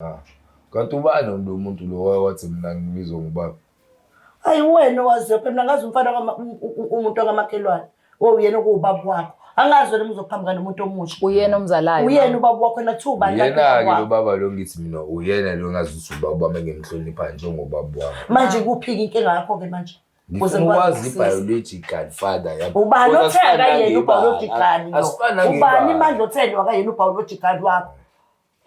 Ah. Kanti ubani lo muntu lo wathi mina ngibizwa ngubaba? Hayi wena wazophe mina ngazi umfana umuntu ongamakhelwane. Wo uyena okuwubaba wakho. Angazi wena uzoqhamuka nomuntu omusha. Uyena omzalayo. Uyena ubaba wakho na two bani. Uyena ke lo baba lo ngithi mina uyena lo ngazi ukuthi ubaba bami ngimhlonipha njengobaba wakho. Manje kuphi inkinga yakho ke manje? Ngifuna ukwazi i-biological father yami. Ubani othe akayena u-biological? Ubani manje othe akayena u-biological wakho?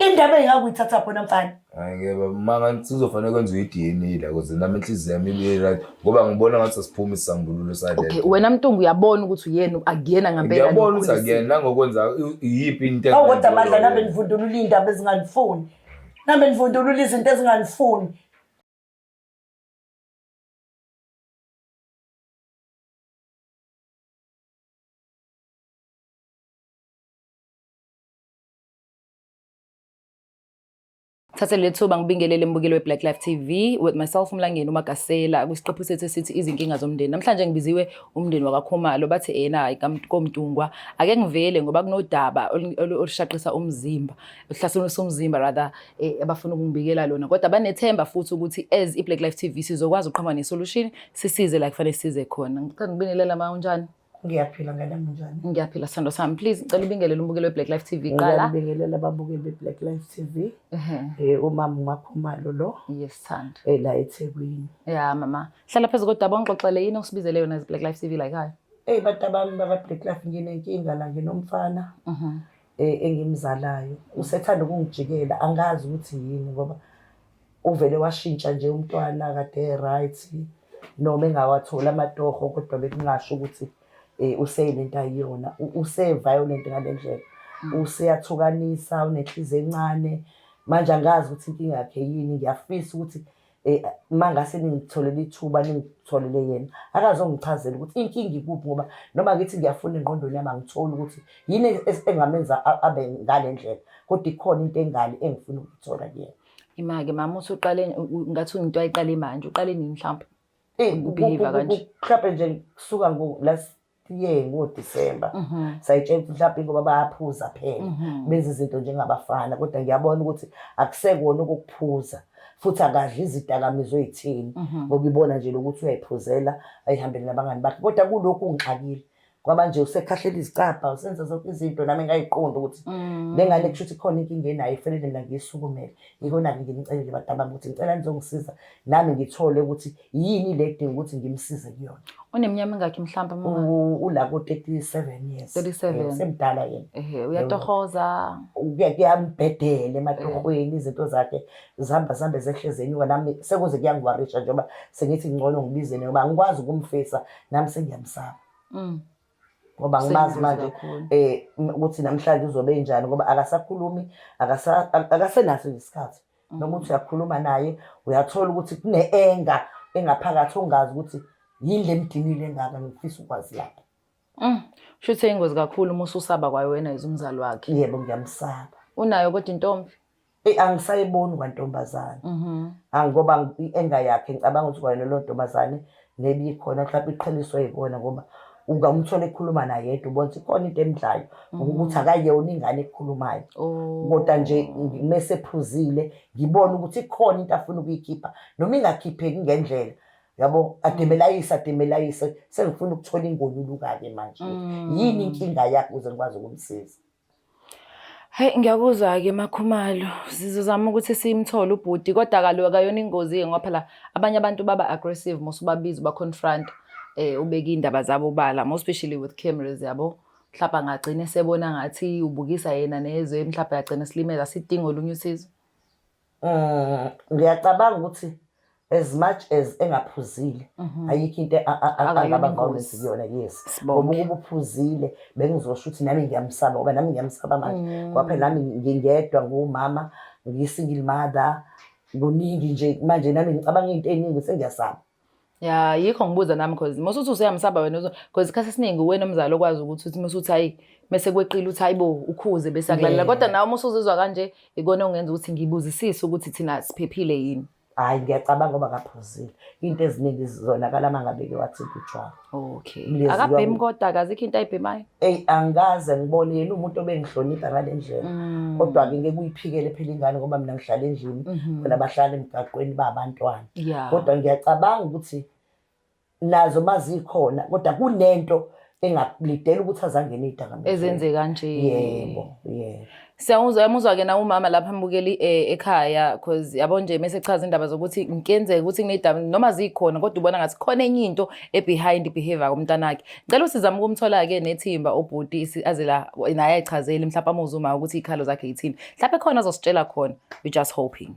Indaba engakuyithatha khona mfana. Hayi ke baba maka sizofanele kwenziwe iDNA la kuze nami inhliziyo yami ibe right ngoba ngibona ngathi sesiphuma isambululo sale. Okay wena Mtungu uyabona ukuthi uyena akuyena ngempela. Uyabona ukuthi akuyena nangokwenza iyiphi into. Awu kodwa amadla nabe nivundulula indaba ezinganifuni. Nabe nivundulula izinto ezinganifuni. thathe lethuba ngibingelele mbukeli we-black life tv with myself umlangeni umagasela kwisiqephu sethu esithi izinkinga zomndeni namhlanje ngibiziwe umndeni wakakhumalo bathi ena komntungwa ake ngivele ngoba kunodaba olushaqisa umzimba oluhlasimulisa umzimba rather eh, abafuna ukungibikela lona kodwa banethemba futhi ukuthi as i-black life tv sizokwazi ukuqhama ne-solution sisize la kufanele size khona ngithanda ukubingelela ma unjani Ngiyaphila ngane yami njani? Ngiyaphila sithando sami. Please ngicela ubingelele umbukeli we-Black Life TV kuqala. Ngiyabingelela ababukeli be-Black Life TV. Eh umama uMakhumalo lo. Yes thando. Eh la eThekwini. Yeah mama. Hlala phezu kodwa bongixoxele yini osibizele yona ze-Black Life TV la ekhaya? Ey batabami baba-Black Life nginenkinga la nginomfana. Mhm. e, engimzalayo usethanda ukungijikela angazi ukuthi yini ngoba uvele washintsha nje umntwana kade right noma engawatholi amatoho kodwa bekungasho ukuthi um useyinento ayiyona use-violent ngale ndlela mm. useyathukanisa unenhliziyo encane manje angazi ukuthi inkinga yakhe yini ngiyafisa ukuthi Eh, uma ngase ningitholele ithuba ningitholele yena akazongichazela ukuthi inkinga ikuphi ngoba noma ngithi ngiyafuna engqondweni yami angitholi ukuthi yini engamenza abe ngale ndlela kodwa ikhona into engale engifuna ukuyithola kuyena imake mama usuqale ngathi into ayiqale manje uqale nini mhlawumbe eh, ukubehave kanje mhlawumbe nje kusuka ngo last ye ngoDisemba mhm. sayitshela ukuthi mhlawumbe ngoba bayaphuza phela mhm. benza izinto njengabafana kodwa ngiyabona ukuthi akusekona ukuphuza futhi akadli izidakamizwa ezithini mhm. ngoba ibona nje lokuthi uyayiphuzela ayihambele nabangani bakhe kodwa kulokhu ungixakile ngoba nje usekhahlela izicabha usenza zonke izinto nami ngayiqonda ukuthi mm. le ngane kusho ukuthi khona inkinga enayo ifanele mina ngiyisukumele yikona-ke nginicelele badabami ukuthi ngicela nizongisiza nami ngithole ukuthi yini le kudinga ukuthi ngimsize kuyona uneminyama ingakhi mhlawumbe mama U- ula ko-37 years 37. Eh, usemdala yena ehe uyatohoza Kuya- kuyambhedela ematohweni izinto zakhe zihamba zihambe zehle zenyuka nami sekuze kuyangiwarisha njengoba sengithi ngcono ngibizene ngoba angikwazi ukumfisa nami sengiyamsaba Mm. ngoba ngimazi manje um ukuthi namhlanje uzobe enjani ngoba akasakhulumi akasenaso isikhathi mm. noma ukuthi uyakhuluma naye uyathola ukuthi kune-enga engaphakathi ongazi ukuthi yini le mdinile engaka ngifisa ukwazi lapho mm. sho ukuthi eyingozi kakhulu uma ususaba kwayewena yize umzali wakhe yebo ngiyamsaba unayo kodwa intombi Ey angisayiboni kwantombazane. Mhm. Angoba ienga yakhe ngicabanga ukuthi kwayona lo ntombazane nebi khona mhlawumbe iqheliswe yikona ngoba ungamthola ekhuluma naye yedwa ubona ukuthi khona into emdlayo ukuthi akayona ingane ekhulumayo. Oh. Kodwa nje mese phuzile ngibona ukuthi ikhona into afuna ukuyikhipha noma ingakhipheki ngendlela. Yabo ademelayise ademelayise sengifuna ukuthola ingonyuluka ke manje. Yini inkinga yakhe ukuze ngikwazi ukumsiza? Hhayi ngiyakuzwa-ke Makhumalo, sizozama ukuthi simthole ubhuti kodwa kaloku akayona ingozi-ke ngoba phela abanye abantu baba aggressive uma usubabiza uba-confront-a ubeke iy'ndaba zabo obala more especially with cameras yabo. Mhlampe angagcina esebona ngathi ubukisa yena nezwe, mhlampe agcine esilimele, asidingi olunye usizo. Mm, ngiyacabanga ukuthi as much as engaphuzile mhm. ayikho into angaba violence kuyona yes ngoba ukuba uphuzile bengizosho ukuthi nami ngiyamsaba ngoba nami ngiyamsaba manje mm. ngoba phela nami ngingedwa ngumama ngiyi-single mother kuningi nje manje nami ngicabanga into eningi sengiyasaba ya yikho ngibuza nami cause mose uthi useyamsaba wena cause isikhathi esiningi uwena umzali okwazi ukuthi uthi mase uthi hayi mese kweqile uthi hayibo ukhuze bese akulalela kodwa nawe uma usuzizwa kanje ikona ongenza ukuthi ngibuzisise ukuthi thina siphephile yini hayi ngiyacabanga ngoba kaphuzile into eziningi zizonakala uma ngabe ke wathi utshwala Okay. Mlezi Akabhemi wami. kodwa akazikho into ayibhemayo. Eyi angikaze ngibone yena umuntu obengihlonipha ngale ndlela. Mm. Kodwa-ke ngeke uyiphikele phela ingane ngoba mina ngihlala endlini Mhm. khona bahlala emgaqweni babantwana. Yeah. Kodwa ngiyacabanga ukuthi nazo mazikhona kodwa kunento engakulidela ukuthi azangene idakamizweni. ezenzeka nje. Yebo, yebo. Siyamuzwa yamuzwa ke na umama lapha ambukeli eh, ekhaya cause yabo nje mase echaza indaba zokuthi ngikenzeka ukuthi nginedaba noma zikhona kodwa ubona ngathi khona enye into e behind behavior komntanakhe. Ngicela usizame ukumthola ke nethimba obhuti si- aze la naye ayichazele mhlawumbe amuzwe uma ukuthi ikhalo zakhe yithini. Mhlawumbe khona azositshela khona. We just hoping.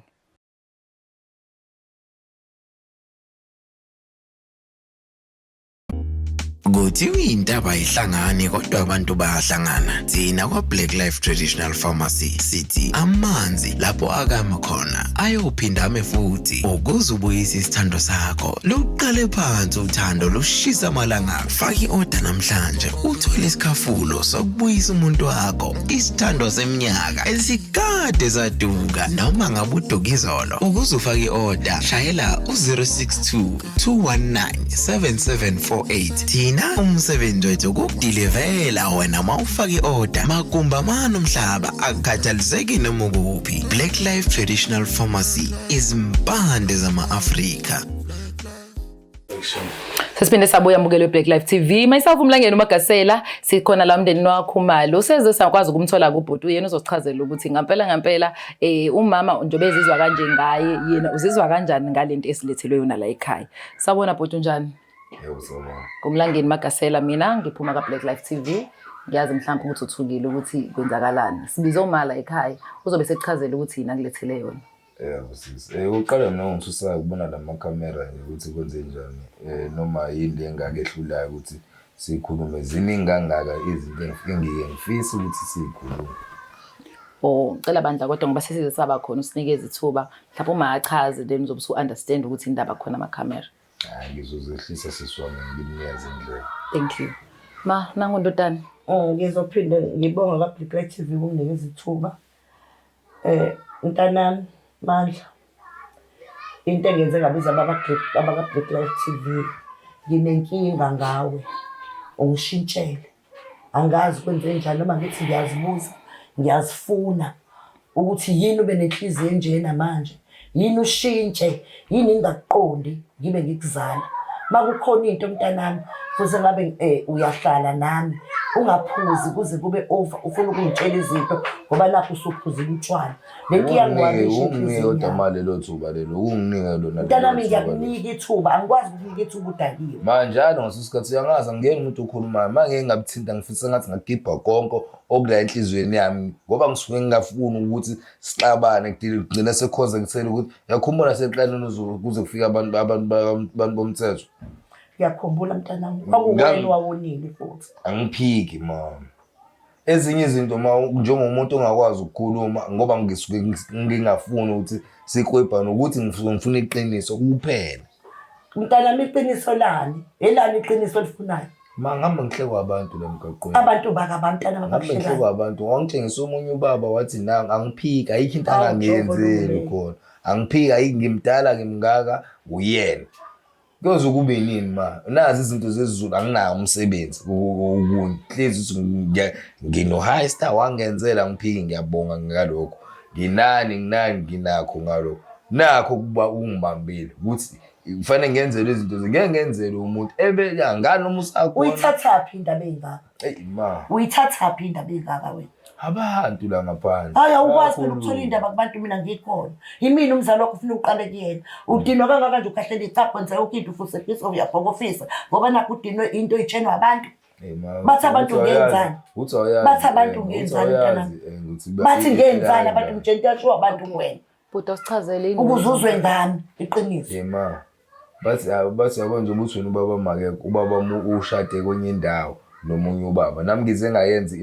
Kuthiwa intaba ihlangani kodwa abantu bayahlangana. Thina kwa-Black Life Traditional Pharmacy sithi amanzi lapho akama khona ayophinda ame futhi ukuze ubuyise isithando sakho. Luqale phansi uthando lushisa amalanga. Faka i-oda namhlanje uthole isikhafulo sokubuyisa umuntu wakho isithando seminyaka esikade saduka noma ngabe uduka izolo. Ukuze ufake i-oda shayela u-062 219-7748 thina umsebenzi wethu ukukudilivela wena ma ufake i-oda makumba mani umhlaba akukhathaliseki noma ukuphi black life traditional pharmacy izimpande zama-afrika sesiphinde sabuya mbukelo we-black life tv myself umlangeni umagasela sikhona la mndeni wakho umali useze sakwazi ukumthola kubhuti uyena uzosichazela ukuthi ngampela ngampela eh umama njengoba ezizwa kanje ngaye yena uzizwa kanjani ngalento esilethelwe yona la ekhaya sabona bhuti unjani ngumlangeni magasela mina ngiphuma ka-black life t v ngiyazi mhlawumbe ukuthi uthukile ukuthi kwenzakalani sibize umala ekhaya uzobe sekuchazela ukuthi yini akulethele yona yebo sisi um uqala mina ngithusayo ukubona la makhamera nje ukuthi kwenze njani um noma yini le engake ehlulayo ukuthi Sikhulume ziningi kangaka izinto engifike ngiye ngifise ukuthi sikhulume. Oh, cela bandla kodwa ngoba sesize saba khona usinikeza ithuba. Mhlawumbe uma achaze then uzobe usu understand ukuthi indaba khona ama camera. Hayi ngizozehlisa siswami ngimnyaze indlela. Thank you. Ma, nangu ndodana. Eh, Ngizophinde ngibonge kwaBlack Light TV ukunginikeza ithuba. Eh mntanami Mandla into engenze ngabiza abaka-Blaq Life T_V nginenkinga ngawe ungishintshele angazi kwenzenjani noma ngithi ngiyazibuza ngiyazifuna ukuthi yini ube nenhliziyo enjena manje. yini ushintshe yini ngingakuqondi ngibe ngikuzala makukhona into mntanami futhi ngabe eh, uyahlala nami ungaphuzi kuze kube over ufuna ukungitshela izinto ngoba nakho usuphuzile utshwala le nto iyangiwamishaunginike kodwa ma lelo thuba lelo unginike lona mntanami ngiyakunika ithuba angikwazi ukunika ithuba udakiwe manjalo ngase sikhathi uyangazi angiyeni umuntu okhulumayo ma ngeke ngabuthinta ngifisa ngathi ngagibha konke okula enhliziyweni yami ngoba ngisuke ngingafuni ukuthi sixabane kugcina sekukhonze ngisele ukuthi yakhumbula sekuqaleni uzulu kuze kufike abantu abantu abantu bomthetho ngiyakhumbula mntanami kwakuwena wawonile futhi angiphiki mama ezinye izinto ma njengomuntu ongakwazi ukukhuluma ngoba ngisuke ngingafuni ukuthi sikwebhane ukuthi ngifuna iqiniso kuphela mntanami iqiniso lani elani iqiniso olifunayo ma ngihamba ngihlekwa abantu la mgaqweni abantu baka bantana ngihamba babahlekayo ngihlekwa abantu wangitshengisa omunye ubaba wathi na angiphiki ayikho into Awu, angangiyenzeli Jobo, khona angiphiki ayikho ngimdala ngimngaka uyena kuyoze kube yini ma nazi izinto zezulu anginawo umsebenzi kunhlezi ukuthi ngiya- ngino-high star wangenzela angiphiki ngiyabonga ngalokho nginani nginani nginakho ngalo nakho ukuba ungibambile ukuthi kufanele ngenzele izinto ngeke ngenzele umuntu ebeka ngani uma usakhona uyithathaphi indaba engaka eyi ma uyithathaphi indaba engaka wena abantu la ngaphandle hayi awukwazi phela ukuthola indaba kubantu mina ngikhona yimina umzali wakho ufuna uqale kuyena udinwa kangaka nje ukhahlela icapho nje yonke into ufuse fisa uyabhokofisa ngoba nakho udinwe into itshenwa abantu bathi abantu ngenzani bathi abantu ngenzani mntanami bathi ngenzani abantu mtsheni kuyashiwo abantu kuwena bhuti asichazele ukuze uzwe ngami iqiniso yema bathi bathi yabo nje ukuthi wena ubaba make ubaba ushade kwenye indawo nomunye ubaba nami ngize ngayenza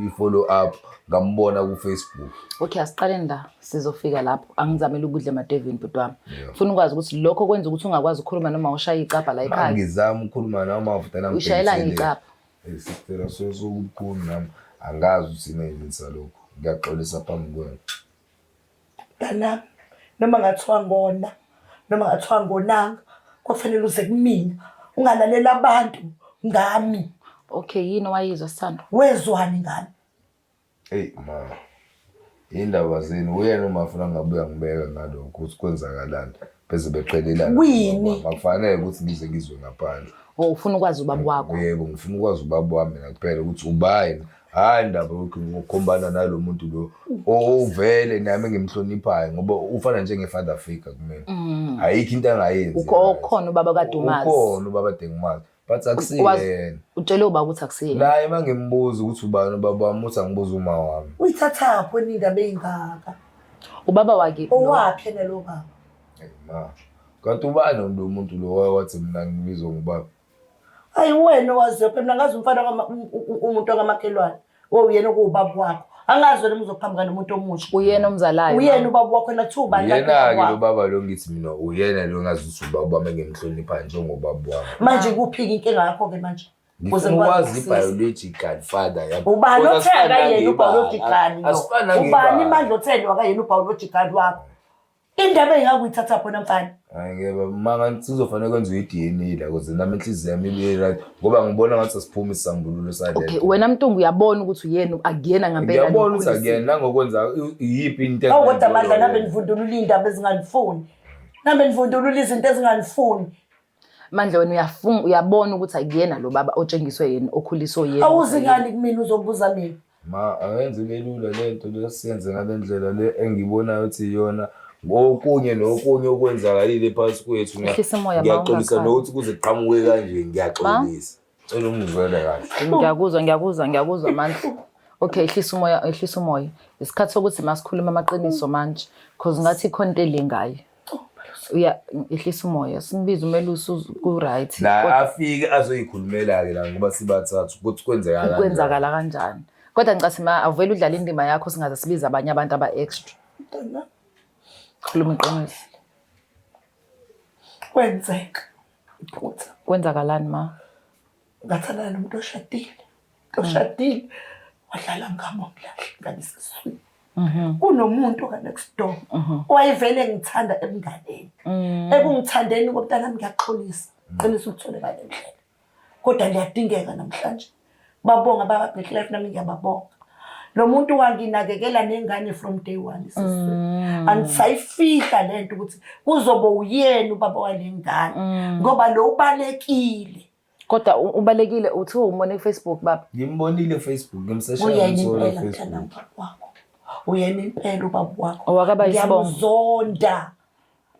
i-follow up ngambona ku-facebook okay asiqaleni la sizofika lapho angizamele ukudla emadevini bhuti wami funa ukwazi ukuthi lokho kwenza ukuthi ungakwazi ukukhuluma noma ushaya icapha la ekhaya ngizama ukukhuluma noma uvutela ushayelani icapha sicela sokukhulu nami angazi ukuthi neyinisa lokho ngiyaxolisa phambi kwenu dana noma ngathiwa ngona noma ngathiwa ngonanga kwafanele uze kumina ungalalela abantu ngami okay yini owayizwa sithando wezwani ngami Eyi ma, yindaba zenu uyena uma afuna ngabuya ngibeke ngalokho ukuthi kwenzakalani beze beqhelelana. Kwini? Ngoba Akufanele ukuthi ngize ngizwe ngaphandle. O Oh, ufuna ukwazi ubaba wakho. Yebo ngifuna ukwazi ubaba wami mina kuphela ukuthi ubayini. Hhayi ndaba yokuthi ngokhombana nalo muntu lo ovele nami ngimhloniphayo ngoba ufana njenge-father figure kumina. Ayikho into angayenzi. Mm. Ukho- ukhona ubaba kaDumazi. Ukhona ubaba Dengumazi. but akusile Wazi- yena utshele uba ukuthi akusiye naye uma ngimbuza ukuthi ubani ubaba wami uthi angibuza uma wami uyithathaphi wena indaba eyingaka ubaba wake no. owaphi yena lo baba Ayi, ma kanti ubani lo muntu lo waye wathi mina ngibizwa ngubaba ayi wena owaziyophi mina ngazi umfana kama- u- u- umuntu wakamakhelwane we uyena okuwubaba wakho angazi wena muzoqhamuka nomuntu omusha uyena omzalayo uyena ubaba wakho nathuba yena-ke lo baba lo ngithi mina uyena lo ngazi ukuthi ubaba wami engimhlonipha njengobaba wami manje kuphika inkinga yakho-ke manje ngifuna i-biological father yami ubani otheni akayena u-biological ubani imandla otheni wakayena u-biological wakho Indaba engakuyithatha khona mfana. Hayi ke baba maka sizofanele kwenziwe iDNA la kuze nami inhliziyo yami ibe right ngoba ngibona ngathi sesiphuma isambululo sale. Okay, wena Mtungu uyabona ukuthi uyena akuyena ngempela. Uyabona ukuthi akuyena nangokwenza iyiphi into. Awu kodwa amadla nabe nivundulula indaba ezinganifuni. Nabe nivundulula izinto ezinganifuni. Mandla wena uyafunga uyabona ukuthi akuyena lo baba otshengiswe yena okhuliswe yena. Awuzi ngani kumina uzobuza mina. Ma ayenze ibelula lento lesiyenze ngalendlela le engibonayo ukuthi iyona ngokunye nokunye okwenzakalile phansi kwethu. Ngiyaxolisa nokuthi kuze kuqhamuke kanje ngiyaxolisa. Cela ungizwele kahle. Ngiyakuzwa ngiyakuzwa ngiyakuzwa mandla. Okay, ehlisa umoya ehlisa umoya. Isikhathi sokuthi masikhuluma amaqiniso manje because ngathi ikhona into elingayo. Uya ehlisa umoya simbiza umelusi uz- ku right. La afike azoyikhulumela ke la ngoba sibathathu ukuthi kwenzeka kanjani. Kwenzakala kanjani? Kodwa ngicase ma avele udlala indima yakho singaze sibize abanye abantu aba extra. Khuluma iqiniso. Kwenzeka. Iphutha. Kwenzakalani ma? Ngathandana nomuntu oshadile. Oshadile. Wadlala ngami wamlahle ngani sesiswini. Kunomuntu ka next door owayevele ngithanda ebunganeni. Ekungithandeni komntanami ngiyaxolisa. Qinisa uthole ngale ndlela. Kodwa liyadingeka namhlanje. babonga bababheklife nami ngiyababonga lo muntu wanginakekela nengane from day one isizwe mm. andisayifihla le nto ukuthi kuzobe uyena ubaba wale ngane mm. ngoba lo ubalekile kodwa ubalekile uthi umone kufacebook baba ngimbonile kufacebook ngimseshauyena impela ubaba wakho ngiyamzonda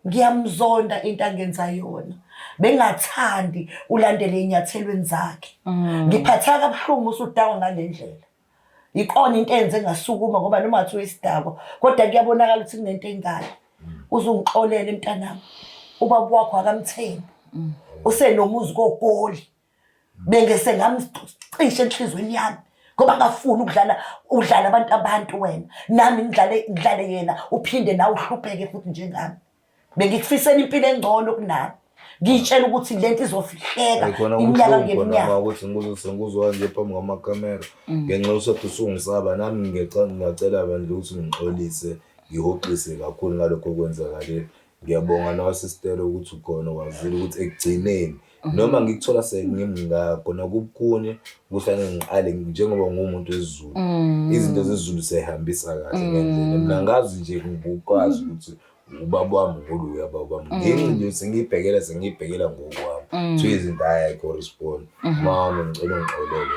ngiyamzonda into angenza yona bengathandi ulandele enyathelweni zakhe mm. ngiphatheka kabuhlungu usudakwa ngale ndlela ikona into enze ngasukuma ngoba noma ngathi uyisidako kodwa kuyabonakala ukuthi kunento engane mm. uzungixolele mntanami ubaba wakho akamthembi mm. usenomuzi kogoli bengese ngamcishe enhlizweni yami ngoba ngafuni ukudlala udlala abantu abantu wena nami ngidlale ngidlale yena uphinde nawe uhlupheke futhi njengami bengikufisela impilo engcono kunami ngiyitshela ukuthi lento izofihleka iminyaka ngeminyaka ukuthi ngikuzise ngikuzwa nje phambi kwamakamera mm. ngenxa yokuthi usungisaba nami ngingacela bandla ukuthi ngixolise ngihoxise kakhulu ngalokho okwenzakalile Ngiyabonga nawe sistelo ukuthi ukhona wazile ukuthi ekugcineni mhm. noma ngikuthola sengimngako nakukunye kuhlale ngiqale njengoba ngumuntu wezulu mhm. izinto zezulu seyihambisa kahle mhm. ngendlela mina ngazi nje ngikwazi ukuthi ubaba wami ngolu uyababa wami ngenxa nje sengiyibhekela sengiyibhekela ngokwami so izinto ayikho respond mama ngicela ungixolele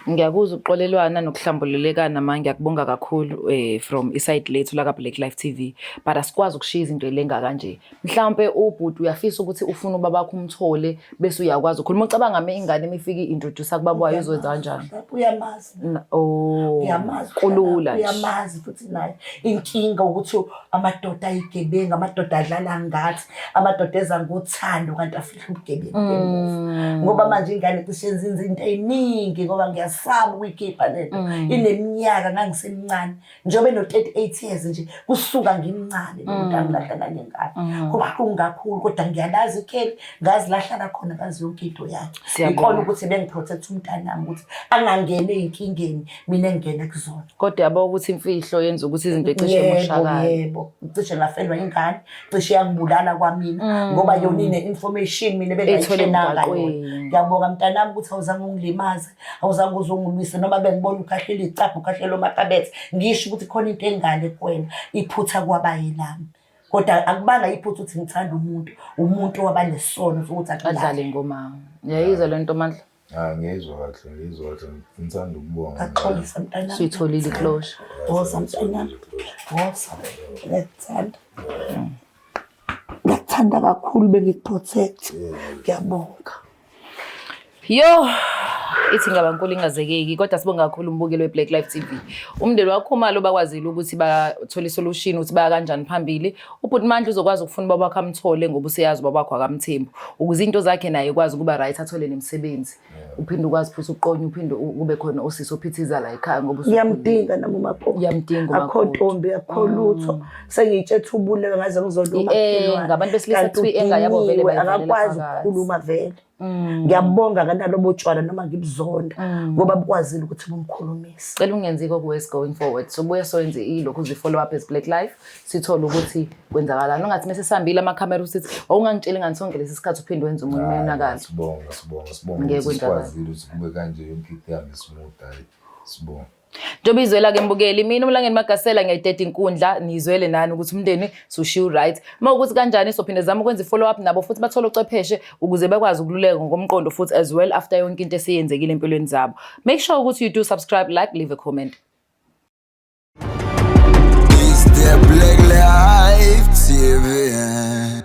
Ngiyakuzwa ukuxolelwana nokuhlambululekana ma ngiyakubonga kakhulu eh from iside lethu la ka Black Life TV but asikwazi ukushiya izinto elenga kanje mhlawumbe ubhuti uyafisa ukuthi ufuna ubaba wakho umthole bese uyakwazi ukhuluma ucabanga me ingane imifika introduce kubaba wayo izokwenza kanjani uyamazi oh uyamazi kulula uyamazi futhi naye inkinga ukuthi amadoda ayigebenga amadoda adlala ngathi amadoda eza ngothando kanti ubugebengu bemuva mm. ngoba manje ingane cishe yenzinza into eyiningi ngoba ngiyasaba ukuyikhipha lento mm. ineminyaka ngangisemncane njengoba eno-thirty eight years nje kusuka ngimncane lomuntu mm. angilahla nanye ngane kubuhlungu kakhulu kodwa ngiyalazi ikheli ngazilahlala khona ngazi yonke into yakhe ikona ukuthi bengiprotect umntanami ukuthi angangeni eyinkingeni mina engingene kuzona kodwa yabo ukuthi imfihlo yenza ukuthi izinto ecishe moshakala yebo ngicishe ngafelwa ingane cishe yangibulala kwamina mm. ngoba yona ine-information mina bengayithenanga yona ngiyabonga mntanami ukuthi awuzange ungilimaze awuzange uze ungilwise noma bengibona ukhahlela icabha ukhahlela omakabethe ngisho ukuthi khona into engale kuwena iphutha kwabayelami kodwa akubanga iphutha ukuthi ngithanda umuntu umuntu wabanesono sokuthi adlale ngomama ngiyayizwa le nto mandla Hayi ngiyizwa kahle ngiyizwa kahle ngithanda ukubonga. Axolisa mntanami. Suyitholile iklosha. Woza mntanami. Woza. Ngethanda. Ngethanda kakhulu bengikuprotect. Ngiyabonga. Yo ithi ngaba nkulu ingazekeki kodwa sibonga kakhulu umbukeli we-black life tv umndeni wakho umali obakwazile ukuthi bathole isolution ukuthi baya kanjani phambili Ubhuti Mandla uzokwazi ukufuna ubaba wakhe amthole ngoba useyazi ubaba wakho akamthembu ukuze into zakhe naye ikwazi ukuba right athole nemisebenzi uphinde ukwazi futhi uqonye uphinde u- kube khona usisi ophithiza la ekhaya ngoba usukhulile. ngiyamdinga nami umakoti Ngiyamdinga akho umakoti. ntombi akho lutho sengitshe thubule ngaze ngizoduma Eh, ngabantu besilisa kuthiwa i-anger yabo vele bayivalela akakwazi phakathi. ukukhuluma vele Mm. ngiyabonga kanalobo tshwala noma ngibuzonda mm. ngoba bukwazile ukuthi bumkhulumise cela ungenzi kokuwes going forward so buye soyenze ilokhu zi-follow up as black life sithole ukuthi kwenzakalani ungathi mese sihambile amakhamera usithi wawungangitsheli ngani sonke lesi sikhathi uphinde wenza umuntu umonakalo sibonga sibonga sibonga ukuthi sikwazile ukuthi kube kanje yonke into ihambe smooth hayi sibonga Njengoba izwela ke mbukeli mina uMlangeni Magasela ngiyayideda inkundla nizwele nani ukuthi umndeni sushiya right. Uma ukuthi kanjani sophinde zama ukwenza i-follow up nabo futhi bathole ocwepheshe ukuze bakwazi ukululeka ngokomqondo futhi as well after yonke into eseyenzekile empilweni zabo. Make sure ukuthi you do subscribe, like, leave a comment. Is there black life TV?